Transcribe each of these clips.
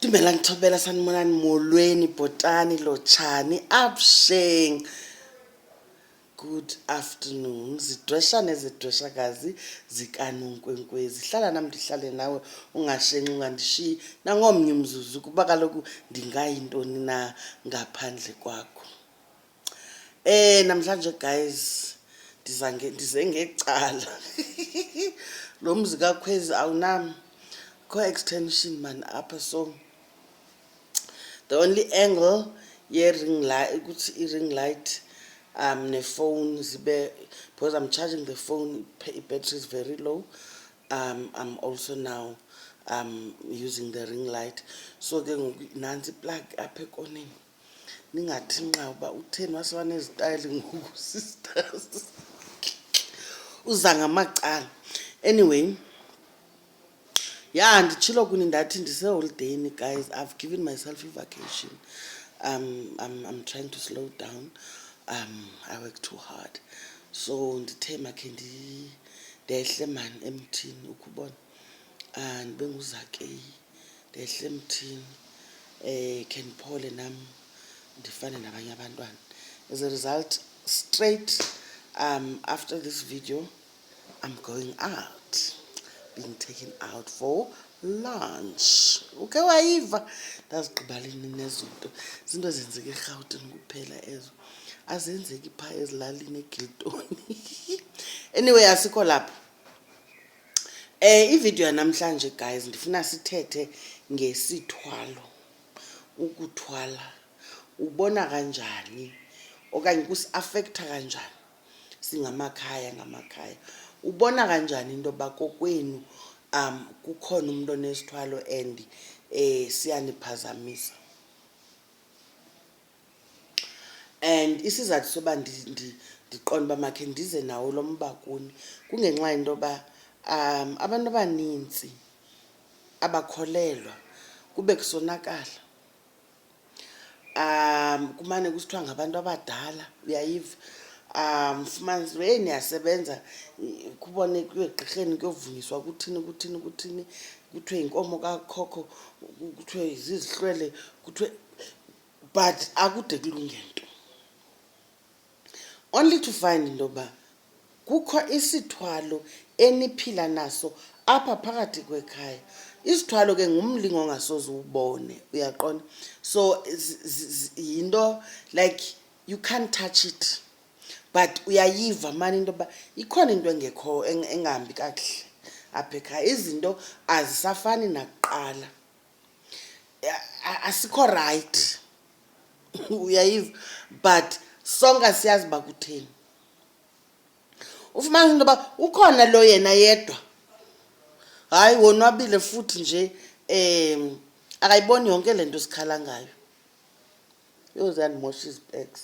Dumela ngithobela sanimonani molweni bhotani lotshani absheng good afternoon zidweshane zidweshakazi zikanonkwenkwezi hlala nam ndihlale nawe ungashenxi ungandishiyi nangomnye umzuzu kuba kaloku ndingayintoni na ngaphandle kwakho Eh namhlanje guys ndiza ndize ngecala. Lo mzi kakhwezi awunam kho extension man apha so the only angle ye ring light ukuthi i ring light um ne phone zibe because I'm charging the phone i battery is very low um I'm also now um using the ring light so ke ngoku nantsi plug apha ekoneni ningathi nqa uba utheni waseba nezitayile ngoku sisters uza ngamacala anyway ya nditshilo kuni ndathi ndiseholideyini guys i've given myself ivacation um, I'm, i'm trying to slow down um, i work too hard so ndithe makhe ndehle mani emthini ukubona ndibe nguzakeyi ndehle emthini um khe ndiphole nam ndifane nabanye abantwana as a result straight um after this video i'm going out being taken out for lunch uke wayiva ndazigqibalini nezo nto zinto ezenzeka erhawutini kuphela ezo azenzeki phaa ezilalini egiltoni anyway asikho lapho Eh ivideo yanamhlanje guys ndifuna sithethe ngesithwalo ukuthwala ubona kanjani okanye kusiafektha kanjani singamakhaya ngamakhaya ubona kanjani into yoba kokwenu um kukhona umntu onesithwalo and um siyaniphazamisa And isizathu soba ndiqonde uba makhe ndize nawo lo mba kuni kungenxa yento yoba um abantu abanintsi abakholelwa kube kusonakala. Kumane kusithiwa ngabantu abadala, uyayiva? Ufumanise uba heyi niyasebenza kubone kuyiwe egqirheni kuyovunyiswa kuthini kuthini kuthini, kuthiwe yinkomo kakhokho, kuthiwe zizihlwele, kuthiwe. but akude kulunge nto only to find into yoba kukho isithwalo eniphila naso apha phakathi kwekhaya isithwalo ke ngumlingo ongasoze uwubone uyaqonda so yinto like you can't touch it but uyayiva mani into yoba ikhona into engekho engahambi kakuhle apha ekhaya izinto azisafani nakuqala a- asikho rayithi uyayiva but sonke siyazi uba kutheni ufumanisa into yoba ukhona lo yena yedwa hayi wonwabile futhi nje um akayiboni yonke le nto sikhala ngayo yho ziyandimosha izipeks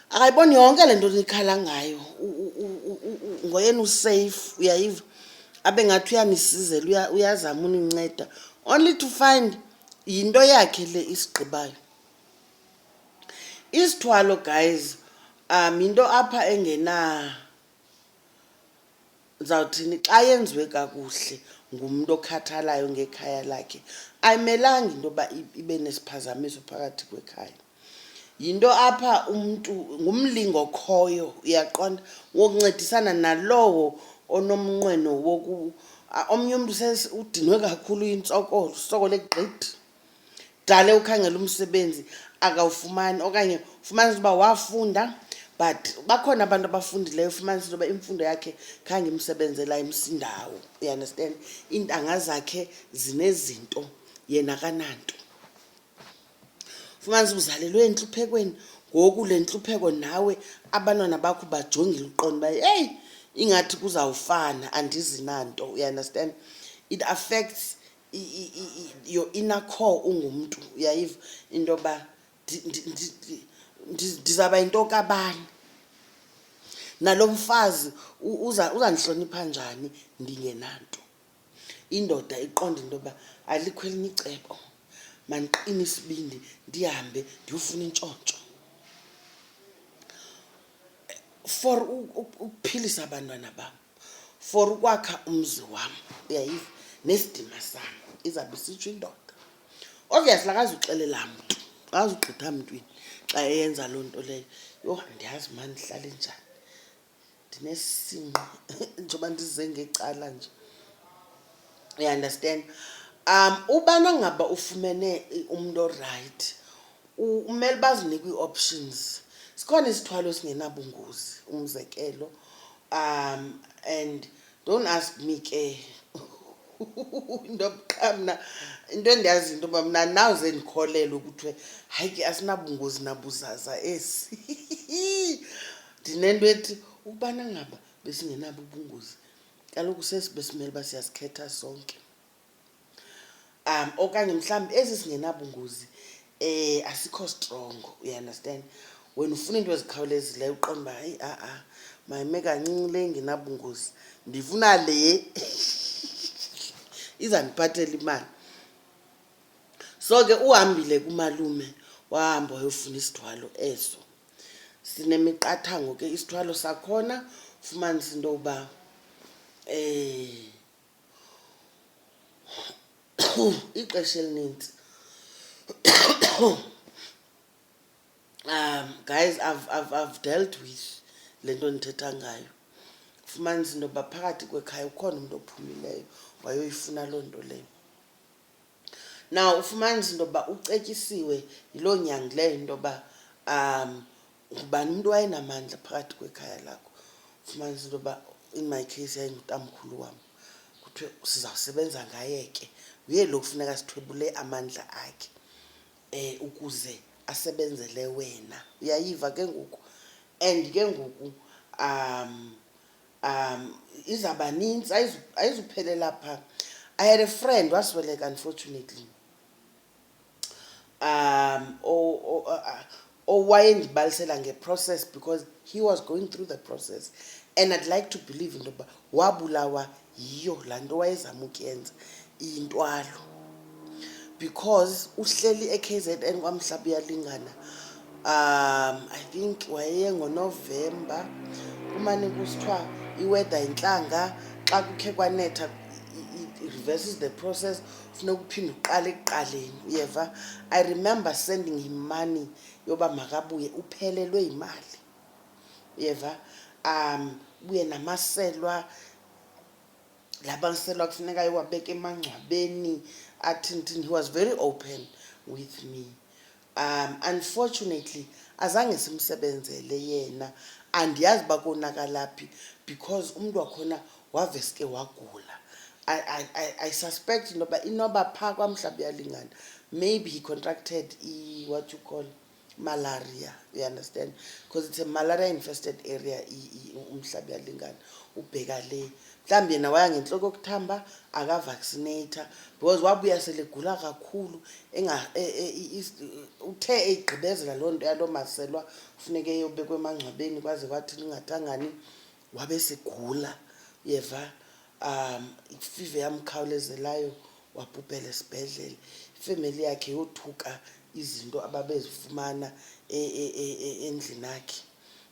akayiboni yonke le nto nikhala ngayo ngoyena usafe uyayiva abe ngathi uyanisizela uyazama uninceda only to find yinto yakhe le isigqibayo isithwalo guys um yinto apha engena ndizawuthini xa yenziwe kakuhle ngumntu okhathalayo ngekhaya lakhe ayimelanga into yoba ibe nesiphazamiso phakathi kwekhaya yinto apha umntu ngumlingo okhoyo uyaqonda wokuncedisana nalowo onomnqweno woku omnye umntu udinwe kakhulu yintsokolo usokole gqithi dale ukhangela umsebenzi akawufumani okanye ufumanisa uba wafunda but bakhona abantu abafundileyo ufumanisa into yoba imfundo yakhe khange imsebenzela imsindawo you understand iintanga zakhe zinezinto yena kananto ufumanisa uzalelwe entluphekweni ngoku le ntlupheko nawe abantwana bakho bajongile uqondo uba eyi ingathi kuzawufana andizi nanto you understand it affects your inner core ungumntu uyayiva into yoba ndizawuba yinto kabani nalo mfazi uzandihlonipha njani ndingenanto indoda iqonda into yoba alikho elinye icebo mandiqine isibindi ndihambe ndiyofuna intshontsho for u- u- ukuphilisa abantwana bam for ukwakha umzi wam uyayiva nesidima sam izawube isitsho indoda obviously akazuxelela mntu akazugqitha mntwini xa eyenza loo nto leyo yho ndiyazi ma ndihlale njani ndinesinqa njengoba ndize ngecala nje uyaunderstand um ubana ngaba ufumene i- umntu orayithi Umele bazinike ii-options. Sikhona isithwalo esingenabungozi, umzekelo. Um and don't ask me ke into qha mna into endiyaziyo into yoba mna andinawuze ndikholelwe kuthiwe hayi ke asinabungozi nabuzaza esi. Ndinento ethi ukubana ngaba besingenabo ubungozi kaloku sesi besimele uba siyazikhetha sonke. um okanye mhlawumbi ezi zingenabungozi um asikho strongo you understand wena ufuna iinto ezikhawulezileyo uqonda uba hayi a-a mayime kancinci le ingenabungozi ndifuna le izandiphathela imali so ke uhambile kumalume wahamba wayofuna isithwalo eso sinemiqathango ke isithwalo sakhona ufumanisa into yokuba um ixesha elinintsi um guys I've, I've, I've dealt with le nto ndithetha ngayo fumanisa into yoba phakathi kwekhaya ukhona umntu ophumileyo wayoyifuna loo nto leyo na ufumanisa into yoba ucetyisiwe yiloo nyangi leyo into yoba um ngubani umntu wayenamandla phakathi kwekhaya lakho fumanisa into yoba in my case yayingutamkhulu wam kuthiwe sizawusebenza ngaye ke nguye lo kufuneka sithwebule amandla akhe um ukuze asebenzele wena uyayiva ke ngoku and ke ngoku um um izawuba nintsi ayizuphelela phaa i had a friend wasweleka unfortunately um owayendibalisela ngeprocess because he was going through the process and i'd like to believe into yokuba wabulawa yiyo laa nto wayezama ukuyenza iyintwalo because uhleli e-k z n kwamhlaba uyalingana um i think wayengonovemba kumane kusithiwa iweda yintlanga xa kukhe kwanetha reverses the process funeka uphinde uqale ekuqaleni uyeva i remember sending him money yoba makabuye uphelelwe yimali uyeva um buye namaselwa la maselwa kufuneka iwabeke emangcwabeni athintini he was very open with me um unfortunately azange simsebenzele yena andiyazi uba konakala phi because umntu wakhona waveske wagula I, I, I, I suspect into yoba inoba phaa kwamhlawumbi uyalingana maybe he contracted i what you call malaria you understand because it's a malaria infested area umhlaba uyalingana ubheka le mhlawumbi yena waya ngentloko yokuthamba akavaccinator because wabuya selegula kakhulu e, e, uthe eyigqibezela loo nto yaloo maselwa funeke eyobekwa emangcwabeni kwaze kwathi lingathangani wabe sigula yeva um ifive yamkhawulezelayo wabhubhela esibhedlele ifemeli yakhe yothuka izinto ababezifumana e, endlini akhe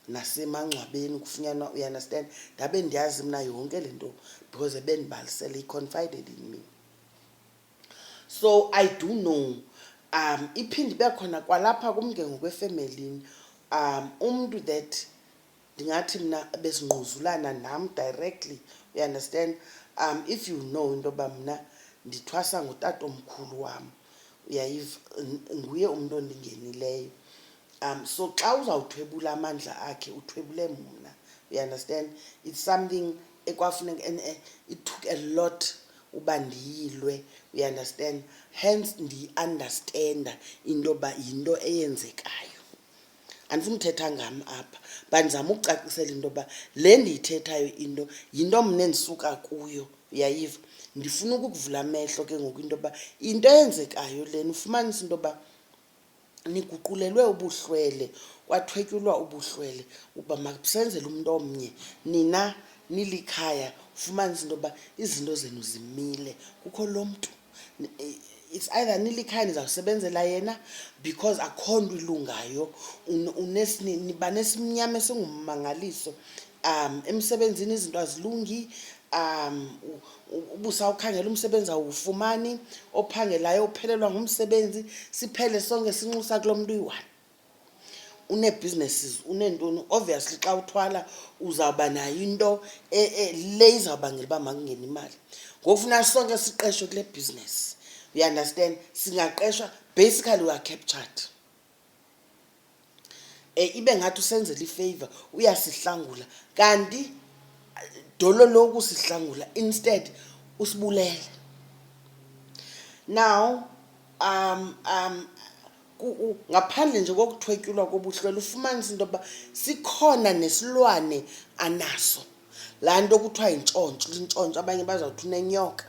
nasemangcwabeni kufunyanwa you understand ndabe ndiyazi mna yonke le nto because ebendibalisele i-confided in me so i do know um iphinde ibe khona kwalapha kum ke ngokwefemelini um umntu that ndingathi mna besingquzulana nam directly you understand um if you know into yoba mna ndithwasa ngutatomkhulu wam uyayiva nguye umntu ondingenileyo um so xa uzawuthwebula amandla akhe uthwebule mna you understand it's something ekwafuneka and eh, it took a lot uba ndiyilwe you understand hence ndiyiunderstanda into yoba yinto eyenzekayo andifuna uthetha ngam apha but ndizama ukucacisela into yoba le ndiyithethayo into yinto mna endisuka kuyo uyayiva ndifuna ukukuvula amehlo ke ngoku into yoba into eyenzekayo lena ufumanisa into yoba niguqulelwe ubuhlwele kwathwetyulwa ubuhlwele uba makusenzele umntu omnye nina nilikhaya ufumanise into yoba izinto zenu zimile kukho lo mntu it's either nilikhaya nizawusebenzela yena because akho nto ilungayo niba nesimnyama esingummangaliso um emsebenzini izinto azilungi um ubusa ukhangela umsebenzi awufumani ophangelayo uphelelwa ngumsebenzi siphele sonke sinxusa kulo mntu uyi-one uneebusinesses uneentoni obviously xa uthwala uzawuba nayo into e, e, le izawubangela uba makungena imali ngoku funa sonke siqeshwe kule bhizinesi you understand singaqeshwa basically we are captured um ibe ngathi usenzela ifeyiva uyasihlangula kanti dolo loku sihlangula instead usibulele now um um ngaphandle nje kokuthwetyulwa kobuhlwela ufumanisa into yokuba sikhona nesilwane anaso laa nto kuthiwa yintshontsho intshontsho abanye bazawuthi unenyoka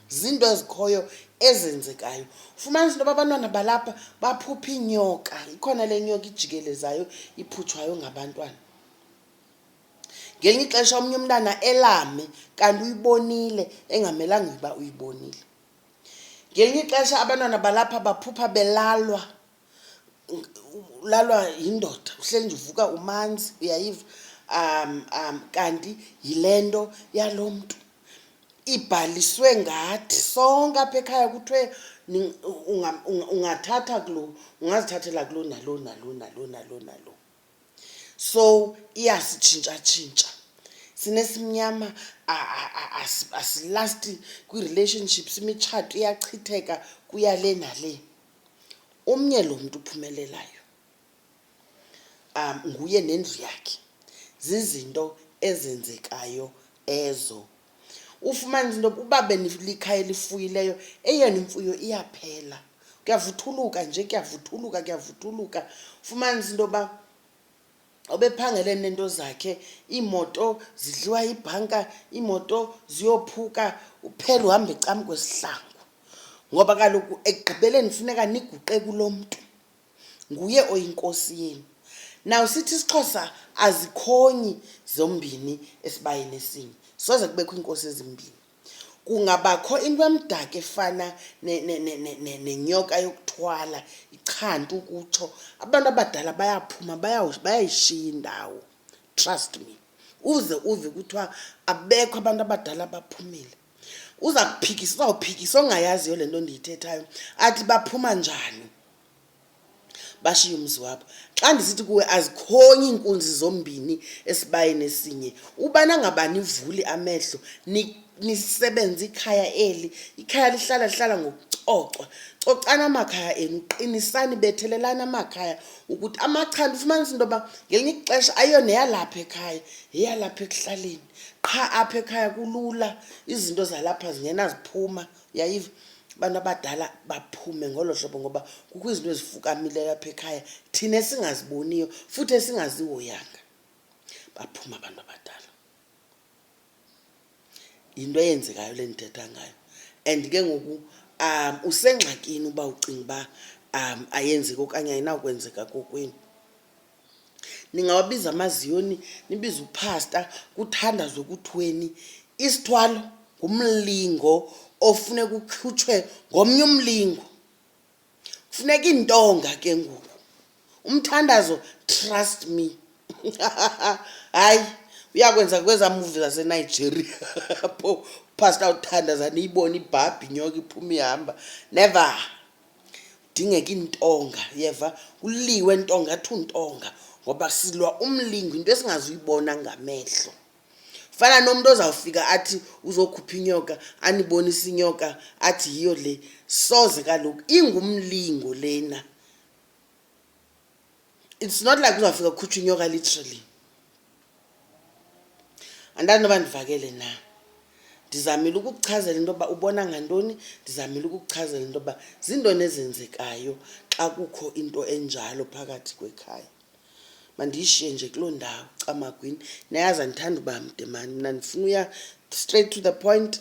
zinto ezikhoyo ezenzekayo fumanisa into yoba abantwana balapha baphupha iinyoka ikhona le nyoka ijikelezayo iphutshwayo ngabantwana ngelinye ixesha omnye umntana elame kanti uyibonile engamelanga uba uyibonile ngelinye ixesha abantwana balapha baphupha belalwa ulalwa yindoda uhleli nje uvuka umanzi uyayiva um um kanti yile nto yalo mntu ibhaliswe ngathi sonke apha ekhaya kuthiwe ungathatha kulo ungazithathela kulo nalo nalo nalo nalo nalo so iyasitshintshatshintsha sinesimnyama asilasti kwii-relationships imitshato iyachitheka kuya le nale omnye lo mntu uphumelelayo um nguye nendlu yakhe zizinto ezenzekayo ezo ufumanisa into yoba uba benikhaya elifuyileyo eyona imfuyo iyaphela kuyavuthuluka nje kuyavuthuluka kuyavuthuluka ufumanisa into yoba obephangele nento zakhe iimoto zidliwa ibhanka iimoto ziyophuka uphela uhamba ecam kwesihlangu ngoba kaloku ekugqibeleni funeka niguqe kulo mntu nguye oyinkosi yenu naw sithi isixhosa azikhonyi zombini esibayeni esinye soze kubekho iinkosi ezimbini kungabakho into emdaka efana nenyoka yokuthwala ichanta ukutsho abantu abadala bayaphuma bayayishiya indawo trust me uze uve kuthiwa abekho abantu abadala abaphumile uza kuphikisa uzawuphikisa ongayaziyo le nto ndiyithethayo athi baphuma njani bashiye umzi wabo xa ndisithi kuwe azikhonyi iinkunzi zombini esibayeni esinye ubana ngabani ivuli amehlo nisebenze ikhaya eli ikhaya lihlala lihlala ngokucocwa cocana amakhaya enu qinisani bethelelani amakhaya ukuthi amachanda ufumanisa into yoba ngelinye ixesha ayiyo neyalapha ekhaya yeyalapha ekuhlaleni qha apha ekhaya kulula izinto zalapha zingenaziphuma yayiva abantu abadala baphume ngolo hlobo ngoba kukho izinto ezifukamileyo apha ekhaya thina esingaziboniyo futhi esingazihoyanga baphuma abantu abadala yinto eyenzekayo le ndithetha ngayo and ke ngoku um usengxakini uba ucinga uba um ayenzeki okanye ayinawukwenzeka kokwenu ningawabiza amaziyoni nibize uphasta kuthandazwe kuthweni isithwalo ngumlingo ofuneka ukhutshwe ngomnye umlingo kufuneka iintonga ke ngoku umthandazo trust me hayi uyakwenza kwezaa muvi zasenigeria pho uphasta uthandaza niyibone ibhabhi nyoka iphuma ihamba never kudingeka iintonga yeva kuliwe ntonga athi untonga ngoba silwa umlingo into esingazuyibona ngamehlo fana nomntu ozawufika athi uzokhupha inyoka anibonise inyoka athi yiyo le soze kaloku ingumlingo lena it's not like uzawufika kukhutshwa inyoka literally andani noba ndivakele na ndizamile ukukuchazela into yoba ubona ngantoni ndizamile ukukuchazela into yoba ziintoni ezenzekayo xa kukho into enjalo phakathi kwekhaya mandiyishiye nje kuloo ndawo camagwini nayazi andithanda uba mde mani mna ndifuna uya straight to the point